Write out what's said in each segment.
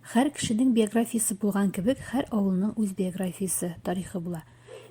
Хәр кешенең биографиясе булган кебек, хәр авылның үз биографиясе, тарихы була.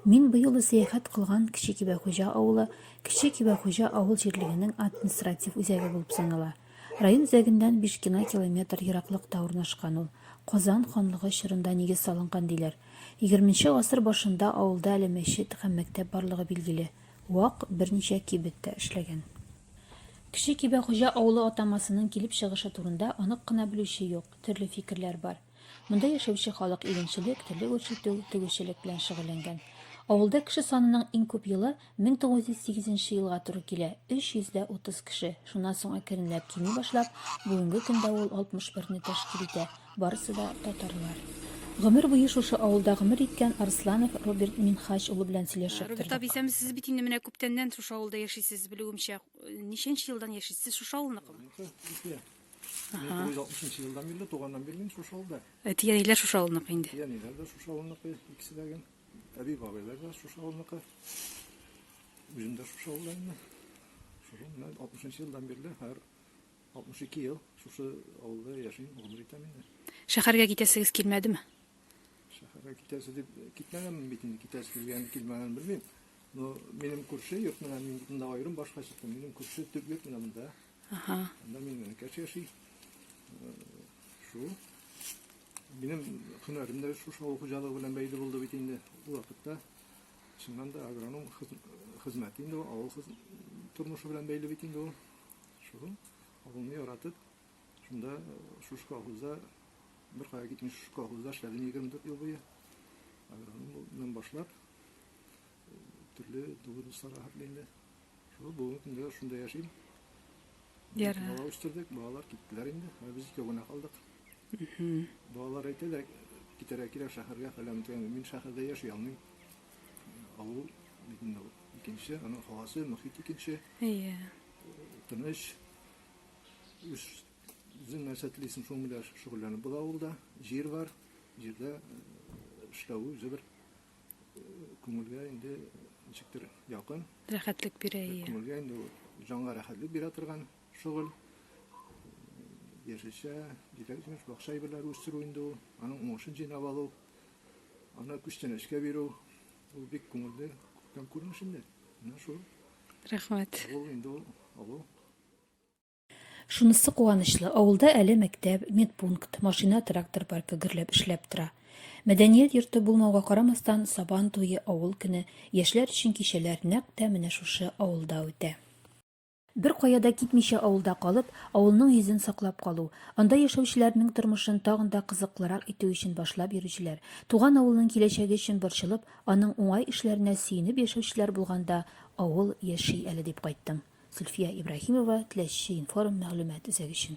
Мин бу юлы сәяхәт кылган Кече Кибәхуҗа авылы, Кече Кибәхуҗа авыл җирлегенең административ үзәге булып санала. Район үзәгеннән биш кена километр ераклыкта урнашкан ул. Казан ханлыгы чорында нигез салынган диләр. Егерменче гасыр башында авылда әле мәчет һәм мәктәп барлыгы билгеле. Вак берничә кибеттә эшләгән. Кече Кибәхуҗа авылы атамасының килеп чыгышы турында анык кына белүче юк, төрле фикерләр бар. Монда яшәүче халык игенчелек, терлек үрчетү, тегүчелек белән шөгыльләнгән. Авылда кеше санының иң күп елы 1908 нче елга туры килә, 330 кеше, шуннан соң әкренләп кими башлап, бүгенге көндә ул 61 не тәшкил итә. Барысы да татарлар. Гомер буе шушы авылда гомер иткән Арсланов Роберт Минхач улы белән сөйләшеп тордык. Роберт абый, сәм сез бит инде менә күптәннән шушы авылда яшисез, белүемчә. Ничәнче елдан яшисез? Сез шушы авылныкымы? Икенче. 1960 елдан бирле, туганнан бирле мин шушы авылда. Әти-әниләр шушы авылныкы инде. Әти-әниләр дә шушы авылныкы, икесе дә гел. Әби-бабайлар да шушы авылныкы. Үзем дә шушы авылда инде. Шушы менә 60 елдан бирле һәр 62 ел шушы авылда яшим, гомер итәм инде. Шәһәргә китәсегез килмәдеме? Шәһәргә китәсе дип китмәгән бит инде, китәсе килгән, килмәгән белмим. Но минем күрше йорт менә мин монда аерым башка чыктым. Минем күрше төп йорт менә монда. Ага. Монда мин генә кәч яши. Э, Шу. Минем һөнәрем дә шушы авыл хуҗалыгы белән бәйле булды бит инде ул вакытта. Чыннан да агроном хез- хезмәте инде ул, авыл хез- тормышы белән бәйле бит инде ул. Шул авылны яратып, шунда шушы колхозда беркая китми шушы колхозда эшләдем 24 ел буе. Агрономнан башлап төрле дулы дусларга хәтле инде. Шул бүгенге көндә шунда яшим. Ярар. Бала үстердек, балалар киттеләр инде. Ә без икәү генә калдык. Балалар әйтәләр, китәргә кирәк шәһәргә фәлән дигән. Мин шәһәрдә яши алмыйм. Авыл бит инде ул икенче, аның һавасы, мохит икенче. Әйе. Тыныч. Үз үзең нәрсә телисең, шуның белән шөгыльләнеп була авылда. Җир бар. Җирдә э, эшләве үзе бер э, күңелгә инде ничектер якын. Рәхәтлек бирә, әйе. Күңелгә инде ул җанга рәхәтлек бирә торган шөгыль. Яшелчә, җиләк-җимеш, бакча әйберләре үстерү инде ул. Аның уңышын җыйнап алу. Аны күчтәнәчкә бирү, ул бик күңелле, күптән күрмеш инде. Менә шул. Рәхмәт. Ул инде ул авыл. Шунысы куанычлы, авылда әле мәктәп, медпункт, машина, трактор паркы гөрләп эшләп тора. Мәдәният йорты булмауга карамастан, Сабан туе, авыл көне, яшьләр өчен кичәләр нәкъ тә менә шушы авылда үтә. Беркая да китмичә авылда калып, авылның йөзен саклап калу, анда яшәүчеләрнең тормышын тагын да кызыклырак итү өчен башлап йөрүчеләр, туган авылның киләчәге өчен борчылып, аның уңай эшләренә сөенеп яшәүчеләр булганда авыл яши әле дип кайттым. Зөлфия Ибраһимова, Теләчче информ, мәгълүмат үзәге өчен.